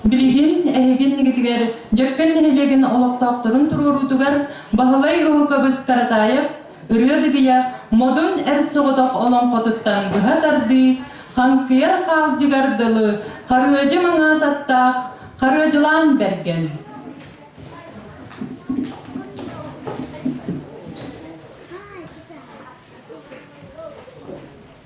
Билигин эһигин игитигэр Дьөккөн нэһилиэгин олохтоохторун туруоруутугар Баһылай Уһукабыс Каратаев ырыа-дыгыйа модун эр соҕотох олоҥхотуттан быһа тардыы, хаҥкыйар хаалдьыгар дылы харыадьы маҥаас аттаах харыадьылаан бэргэн.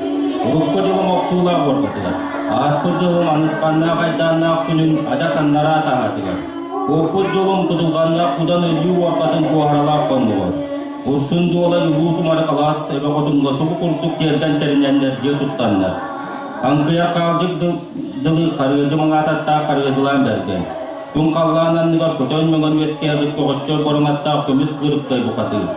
Урукку дьылым охсуулаах уорбатыгар, ааспыт дьылым аныспаннаах айдааннаах күнүн адьас аннараа таҥатыгар, уоппут дьылым Кутурҕаннаах Кудан өлүү уорбатын буоһаралаах хоннугар, Урсун Дуолай Улуу Тумары Алаас Эбэ Хотуҥҥа субу курдук дьиэрдэн тэринэннэр дьиэ туттаннар, хаҥкыйар хаалдьык дылы харыгыдьы маҥаататтаах харыгыдьылаан бэргэн, Тун халлаан анныгар хотон мөҥөн үөскээбит көҕөччөр бороҥаттаах көмүс кырыптай букатыыр.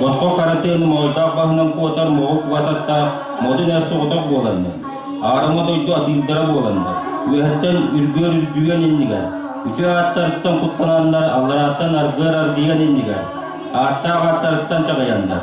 Босхо харатыаны моойдоох баһынан куотар моҕук угас аттаах модун эр соҕотох буоланнар, аарыма дойду атыырдара буоланнар, үөһэттэн үргүөр үрдүгэн иннигэр, үсү ааттарыттан куттанааннар алларааттан аргыар аргыйан иннигэр, ааттаах ааттарыттан чаҕыйаннар,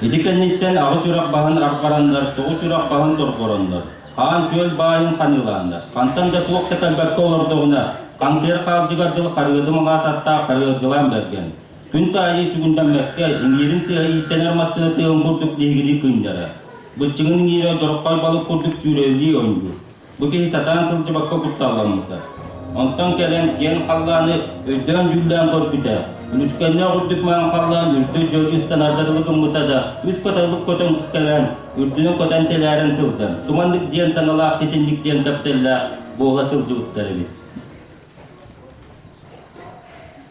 Ити кэнниттэн аҕа чурах баһын раппараннар тоҕу чурах баһын дорҕороннор, хаан-күөл баайын ханыылааннар, хантан да туох да кэлбэккэ олордоҕуна, хантыыр хаалдьыгар дьыл харыадым аҕаататтаах харыадьылаан бэргэн, Күн таайыы сугундан мөккө, иҥиирин тыаһа иистэнэр массыына тыаһын курдук лиһигирии күннэрэ. Быччыҥын иҥиирэ дороххой балык курдук сүүрэллии оонньуур. Бу киһи сатаан сылдьыбакка кутталламмыта. Онтон кэлэн киэн халлааны өйдөөн-дьүүллээн көрбүтэ. Үлүскэннээх үрдүк маҥан халлаан үрдү дьөлү ыстанарда дылы гыммыта да, үс көтөҕүлүк көтөн кэлэн, үрдүнэн көтөн тэлээрэн сылдьан, суманнык диэн саҥалаах ситинник диэн кэпсэллээх буола сылдьыбыттар эбит.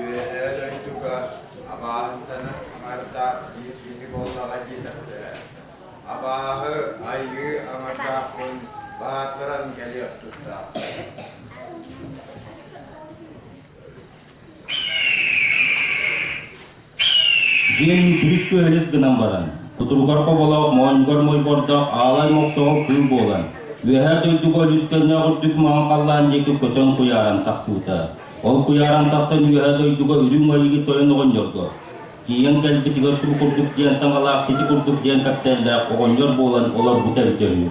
Үөһээ дойдуга абааһынтанан аҥарда биир киһи буоллаҕа диэтэхтэрэ. Абааһы айыы аҥардаахпын баатаран кэлиэх тустаахпын. Дьиҥ үһүс күөһэлис гынан баран, кутуругар хоболох моонньугар мойбордох аалай мохсоҕол кыыл буолан, үөһээ дойдуга Өлүстэннээх үрдүк маһын халлаан диэки көтөн куйааран тахсыбыта. Ол куйааран тахсан үөһээ дойдуга үрүҥ айыгы тойон оҕонньорго, тиийэн кэлбитигэр суу курдук диэн саҥалаах сити курдук диэн кэпсээннээх оҕонньор буолан олорбута өйдөһүү.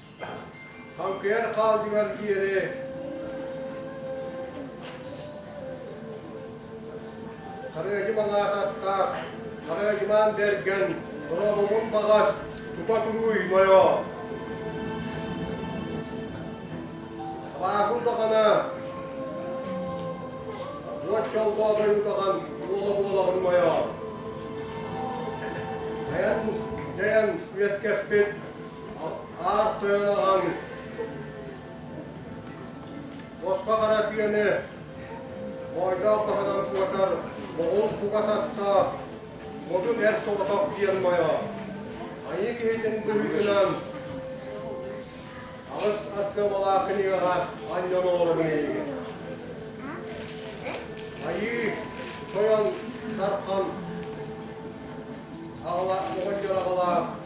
Хаҥкыйар хаалдьыгар диэри Харыадьы малаах аттаах, Харыадьымаан бэргэн, Дорообумун баҕас, тута туруй нойоо. Абааһы удаҕана, уот чолбоо дойу удаҕан, уола буолаҕын нойоо. Дайан, дайан үөскэппит Аар тойон аҕайын. Боско хара күөнү ойдоох таһынан куотар моҕул кугас аттаах модун эр соҕотох диэн мойоо. Айыы киһитин быһыытынан аҕыс ардымалаах кинигэҕэ анньан олоробун эйигин. Айыы, тойон, тархан, аҕала, оҕонньор аҕалаах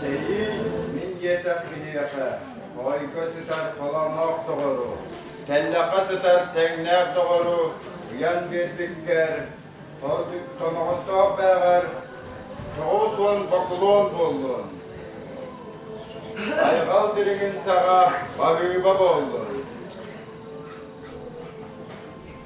Чэйи мин диэтэх киниэхэ, хойго сытар холоноох доҕору, тэллэххэ сытар тэҥнээх доҕору уйан биэрбиккэр, омоҕостоох бээҕэр тоҕус уон бокулуон буоллун. Айҕал дириҥин саҕа балыыба буоллун.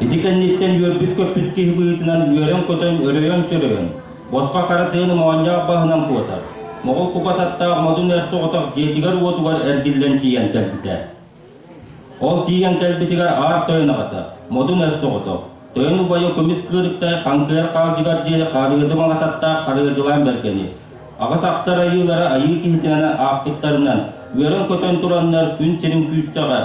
Ити кэнниттэн үөрбүт-көппүт киһи быһыытынан үөрэн-көтөн, өрөйөн-чөрөйөн, босхо харатыын моонньоох баһынан куотар, моҕол кубас аттаах модун эр соҕотох дьиэтигэр-уотугар эргиллэн тиийэн кэлбитэ. Ол тиийэн кэлбитигэр аар тойон аҕата, модун эр соҕотох, тойон убайа кумис кыырыктай хаҥкыйар хаалдьыгар диэри харыйыды маҥас аттаах харыйадьылаан бэргэни, аҕыс ахтар айыылара айыы киһитинэн аахпыттарынан үөрэн-көтөн тураннар күн сирин күүстэҕэ,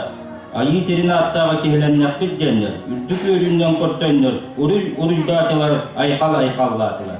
айыы сирин ааттааҕа киһилэннэхпит диэннэр, үрдүк үөрүүннэн көрсөннөр уруй-уруйдаатылар, айхал-айхаллаатылар.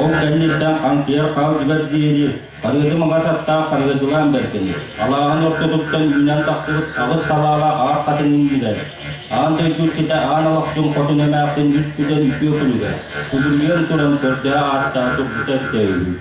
Ол кэнниттэн хантыйар хаалдьыгар диэри харыытым аҕас аттаах харыытылаан бэркэни, алааһын ортотуттан үүнэн тахсыбыт аҕыс салаала аар хатынын билэн, аан дойдуккita аан алахтын хотун эмээхсин үс күдэн үтүө күлүгэ, субуруйан туран көрдөө ааттаа турбута өттөөһүн.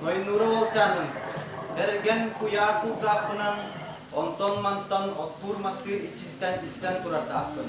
Дойнура Волчанын, Дэргэн куйаар култаахпынан, онтон-мантан оттуур мастыыр иччиттэн истэн турардаахпын.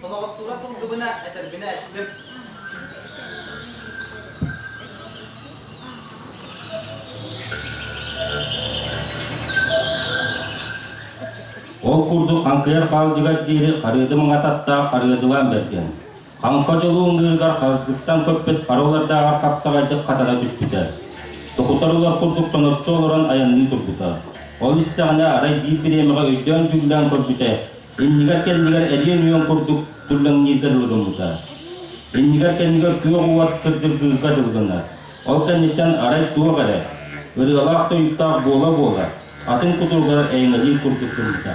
Соноҕостуура сылгыбына, этэрбинэ эстим. Ол курдук хаҥкыйар хаалдьыгар диэри харыыды маҥас аттаах харыадьылаан бэргэн. Хаҥха дьолу ымныырыгар харгыттан көппүт харылардааҕар хапсаҕайдык хатана түспүтэ. Токутар улар курдук чоноччу олорон айанныы турбута. Ол истэҕинэ, арай биир бириэмэҕэ өйдөөн-дьүүллээн көрбүтэ, Иннигэр-кэннигэр элиэн-үөл курдук түрлэҥнииргэ дылы гыммыта. Иннигэр-кэннигэр күөх уот кырдьыргыырга дылҕанар. Ол кэнниттэн арай туох эрэ, ырыалаах тойуктаах буола-буола, атын кутуругар эйҥэлиир курдук гыммыта.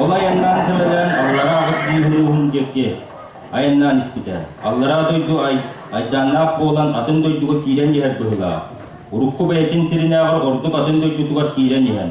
Ол айаннаан сылайан аллараа аҕыс бииһулууһун диэки айаннаан испитэ. Аллараа дойду ай, айдааннаах буолан атын дойдуга киирэн иһэр быһылаах. Урукку бэйэтин сиринээҕэр ордук атын дойдутугар киирэн иһэн,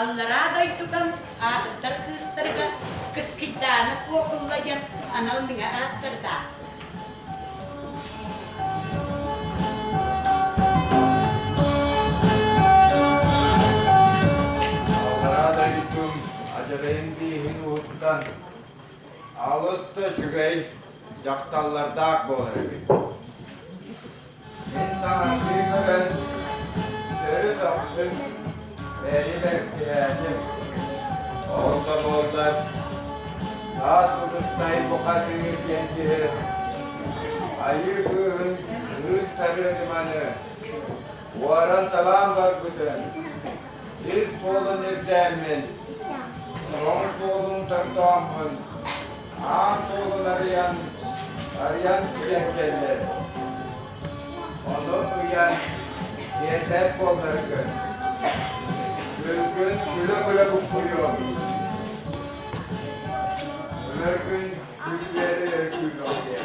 Аллараа дойдутан аатыттар кыыстарыгар Кыскыйдааны Куокулла диэн анал миҥэ ааттардаах Аллараа дойдум адьабайын дииһин уһуттан алыста үчүгэй дьахталлардаах буолар эбит Мин саҥардыым эрэ, төрүт охсун, бэрибэр түһээтим. Ол да буоллар, таас урустай бухатыыр диэн киһи айыы кыыһын кыыс сарыадыманы уоран табаан барбытын ил суолун ирдээммин, тоҥ суолун тортооммун аан туолан арыйан, арыйан кэлэн кэллэр. Онон ыйан, тиэрдэр буолларгын. Күлгүн күлэ-күлэ буккуйуом. Өлөргүн күлгүөри өргүүмэҥ диэн.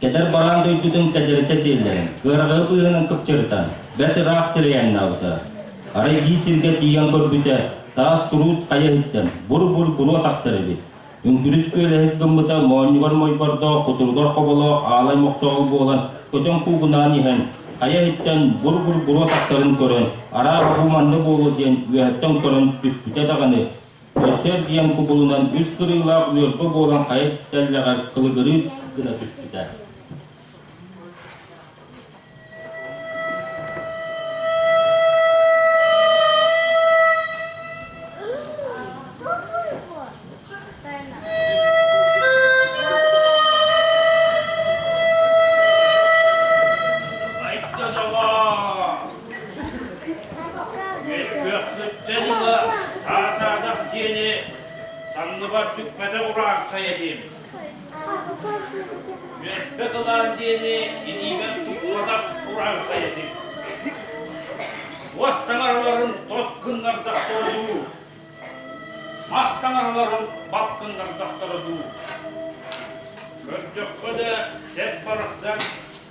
Кэтэр бараан дойдутун кэдэрэтэ сиэллэрин, ыараҕы быыһынан кыпчырытан, бэрт ыраах сирэйэ аннаабыта. Арай биир сиргэ тиийэн көрбүтэ, таас турут хайыһыттан бур-бур буруо тахсар эбит. Үҥкүрүс күөлэһис гыммыта моонньугар мойбордоох, кутуругар хоболоох аалай мохсоҕол буолан көтөн куугунаан иһэн, хайыһыттан бур-бур буруо тахсарын көрөн, араа бу манна буолуо диэн үөһэттэн көрөн түспүтэ даҕаны, Көрсөр диэн кубулунан үс кырыылаах үөрбэ буолан хайа тэллэҕэр кылыгырыы гына түспүтэ. Үспүөхсүттэ дылы аатаатах диэни таҥныбат сүппэтэх урааҥхайа диим. Үөппэ кылаан диэни илиибэр туппатах урааҥхайа диим. Уос таҥараларын тос кыннардахтара дуу, мас таҥараларын бап кыннардахтара дуу. Көрдөххө да сэп барахсан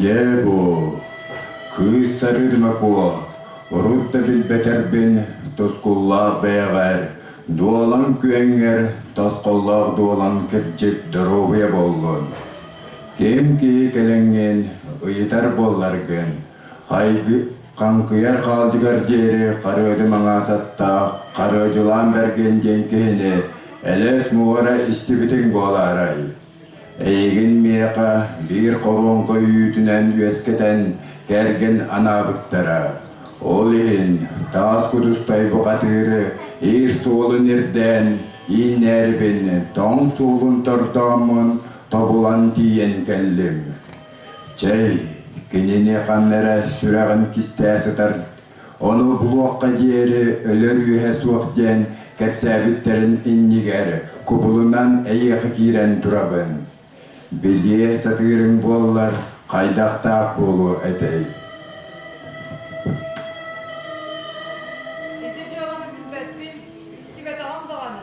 Дьэ бу кыыс сарыыдыма куо урут да билбэтэрбин тускуллаах бэйэҕэр дуолаҥ күөҥҥэр тосхоллоох дуолан кырдьык доруобуйа буоллун. Ким киһи кэлэҥҥин ыйытар буолларгын, хайгы хаҥкыйар хаалдьыгар диэри харыадым аҥаасаттаах харыадьылаан бэргин диэн киһини элэс муора истибитиҥ буолаарай? Эйигин миэхэ биир хоруоҥка үүтүнэн үөскэтэн кэргэн анаабыттара. Ол иһин таас кутустай бухатыыры иир суолун ирдээн ииннээрибин тоҥ суолун тордооммун тобулан тиийэн кэллим. Чэй, кинини ханна эрэ сүрэҕин кистээ сытар Ону булуохха диэри өлөр үөһэ суох диэн кэпсээбиттэрин иннигэр кубулунан эйиэхэ киирэн турабын. Билиэ сатыырыҥ буоллар хайдахтаах буолуо этэй? Ити дьыаланы билбэппин, истибэтэҕим даҕаны.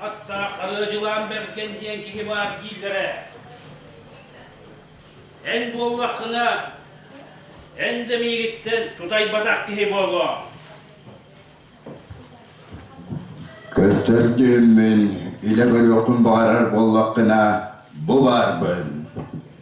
Атта Харыадьылаан Бэргэн диэн киһи баар дииллэрэ. Эн буоллаххына, эн да миигиттэн тутайбатах киһи буолуоҥ. Көстөрдүммүн илэ көрүөххүн баҕарар буоллаххына, бу баарбын.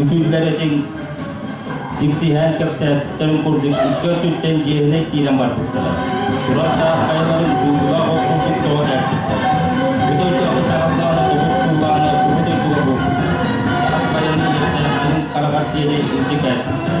Үтүллэр этиҥ дьиксиһээн кэпсээспиттэрин курдук икки өттүттэн дьиэһинэй киирэн барбыттара. Туран таас хайаларын сууллаах от курдук тоҕо кээппиттэр. Бу дойдуга таһыллааны тобус суулааны бу дойдуга буолбуттар. Таас хайаны иһиттэн сирин хараҕар диэри илдьи кээппиттэр.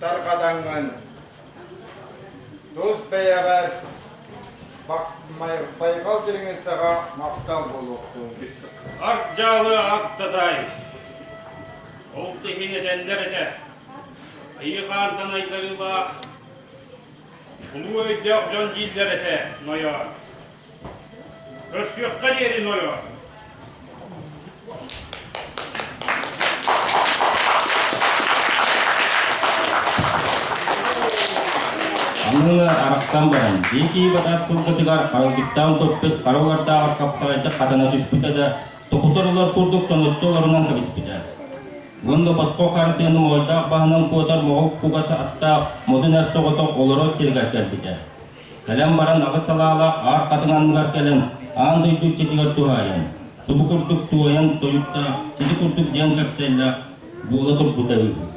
тарҕатаҥҥын. Тус бэйэҕэр байҕал дириҥин саҕа махтал буолуохтун. Арт дьаалы ааттатай. Олт иһин этэллэр этэ. Айыхаан танайдарыылаах улуу өйдөөх дьон дииллэр этэ нойоор. Көрсүөххэ диэри нойоо. Быһыла арахсан баран, Дикий Батат сылгытыгар арылгыттаан топпут харылардаах хапсаҕайдык хатана түспүтэ да, токутар олор курдук чонуччу олорунан кэбиспитэ. Уонна босхо хардыын моҕойдаах баһынан куотар моҕол кугаса аттаах модун эр соҕотох олорор сиригэр кэлбитэ. Кэлэн баран аҕыс салаалаах аар хатыҥ анныгар кэлэн аан дойду иччитигэр туһаайан, субу курдук туойан тойукта сити курдук дьиэн кэпсэллээх буола турбута үһү.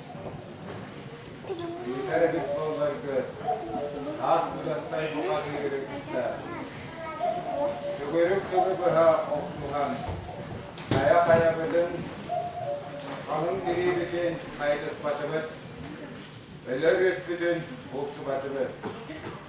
Ыытар эбит буолларгы, аас быгастай бухатыыры кытта. Төгүрүк тылы быһа охсуһан, хайа-хайабытын, ханын дириибитин хайытыспатыбыт, өлөр үспүтүн булсубатыбыт.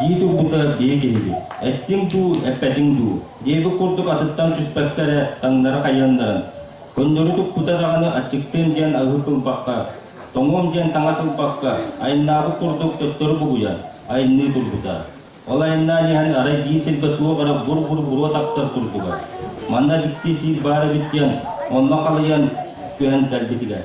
дии турбута биэ киниги эттиҥ дуу эппэтиҥ дуу диэбит курдук атыттан түспэккэ эрэ таҥнары хайыаннаран көннөрү туппута даҕаны аччыктыам диэн аһы кылбакка тоҥуом диэн таҥа тылбакка айаннаабыт курдук төттөрү бугуйан айанныы турбута Ол айаннаан иһэн, арай биир сиргэ туох эрэ бур-бур буруо тахсар курдуга. Манна дьикти сиир баар эбит диэн, онно халыйан түһэн кэлбитигэр.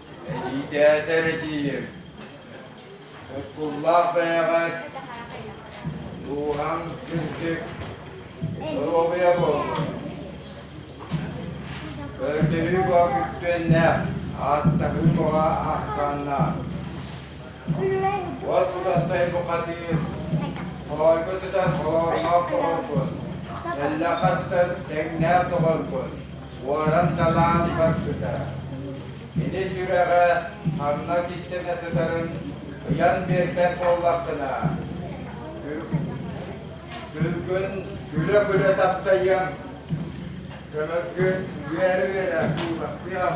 Эрийдээтэ эрэтиим, тускуллаах бэйэҕэр дууһаҥ кырдык доруобуйа буоллун. Көрдөһүү баҕа күртүөннээх, ааттаһыы баҕа ахсааннаах. Уот кутастай букатыыр, хоойго сытар холоонноох доҕоргун, эллэххэ сытар тэҥнээх доҕоргун, Суоран Далаан барсыта. Кини сүрэҕэ ханна кистэнэ сытарын ыйан биэрбэт буоллаххына, күргүн күлэ-күлэ таптайыаҥ, көмөргүн үөрэ-үөрэ уулаттыаҥ,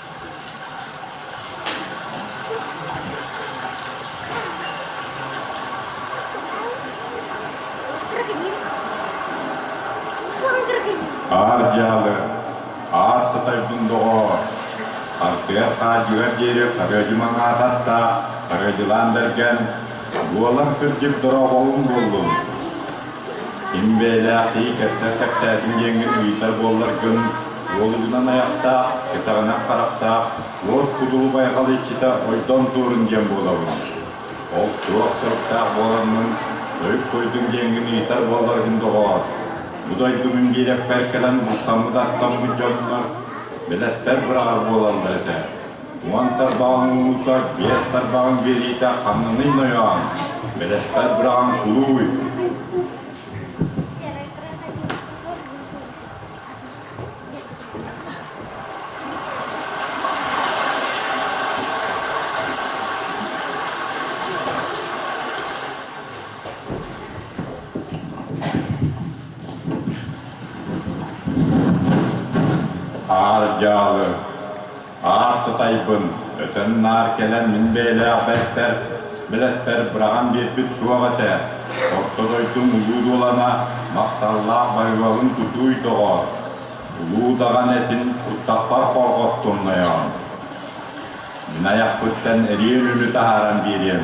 Аар дьаалы, аар Тытайбын доҕоор, Альберт хаадьыгар диэри харыадьымаҥ аататта, харыадьылаан бэргэн, буолан кырдьык дорооболун буоллун! Ким бэйэлээхтии кэпсэл кэпсээтин диэҥҥин ыйытар буолларгын, уолугунан айахтаах, кэтэҕинэх харахтаах, уот кудулу байҕалыччыта ойдон туурун диэн буолабын. Ол туох соруктаах буоланнын, тойук тойдун диэҥҥин ыйытар буолларгын доҕоор, бу дойдубун биэрэппэр кэлэн бултаммыт-аттаммыт дьоннор, билэспэр быраҕар буолаллар этэ. Уон тарбаҕын уута биэс тарбаҕын биэриитэ ханныный нойоон, бэлэхтэр быраҕан кулууй. Аар дьаалы Аар Кытайбын өтөн наар кэлэн мин бэйэлээх бэртэр, билэспэр быраҕан биэрбит суох этэ. Орто дойдум улуу дуолана махталлаах байҕалын тутууй доҕоор, улуу даҕаны этин туттахпар хорҕоттумнойоон. Мин айахпыттан эриэр үлү таһааран биэриэм.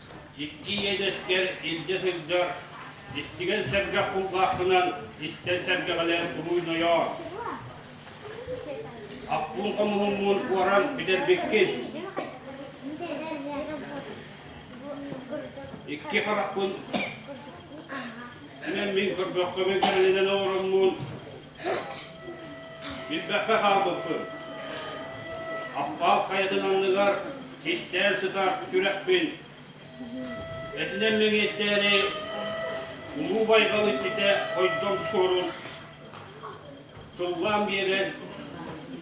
Икки иэдэскэр илдьэ сылдьар, истигэн сэргэх кулгаахпынан истэн сэргэҕэлээн уруйнойоор. Аппуун хомуһуммун уоран бүтэрбиккин. Икки харахпын эн мин көрбөххөмүн кэлинэн оҥороммун Билбэккэ хаалбыппын. Аппаал хайатын анныгар кистээн сытар сүрэхпин. Этинэн мэгиэстээри улуу байҕал иччитэ хойдом суорун тыллаан биэрэн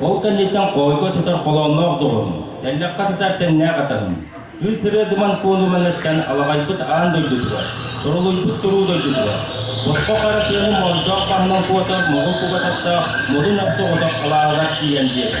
Ол кэнниттэн хоойго сытар холоонноох доҕорум, тэллэххэ сытар тэннээх атаҕым, кыыс сырыа думан куолуман эстэн алаҕайбыт аан дойдутугар, торолуйбут туруу дойдутугар, босхо хара сыаны моойдоох таһынан куотар моҕул кугататтаах модун охсу отох халааҕыгар тиийэн биэрдэ.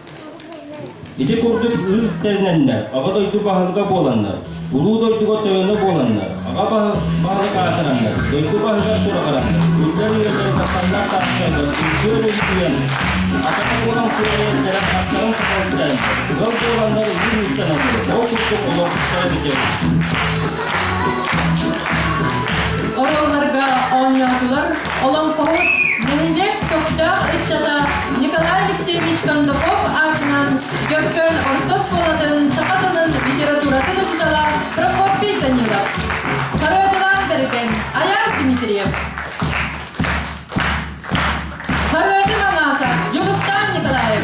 Ити курдук ыыр тэринэннэр Аҕа дойду баһылыга буоланнар, Улуу дойдуга тойоно буоланнар, Аҕа баһылык аатыраннар, дойду баһыгар сураҕыраннар, үрдэр үйэлэрин тахсаллар таастарынан үҥкүөр үҥкүйэн, атака буолан кыайан кэрэх астарын сахалтан, ыал буоланнар ыыр ыыстаналлар, ол курдук олохсуттара бүтэр. Оруолларга оонньоотулар олоҥхоһут, нэһилиэк көхтөөх ыччата Николай Алексеевич Кондаков аатынан Дьөккөн орто оскуолатын саха тылын литературатын учуутала Прокопий Данилов, харыатылаах бэргэн Айаар Дмитриев, харыаты маҥааса Дьулустаан Николаев,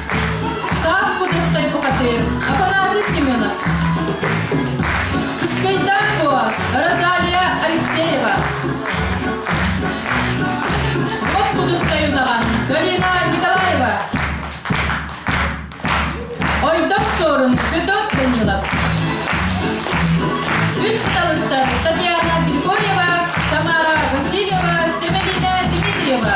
Саас подостай бухатыыр, Апанатий Семенов. Кайдакова Розалия Алексеева. Вот подостай узаган Галина Николаева. Ойдок Сорун Федот Данилов. Үс талыстар Татьяна Григорьева, Тамара Васильева, Семенина Дмитриева.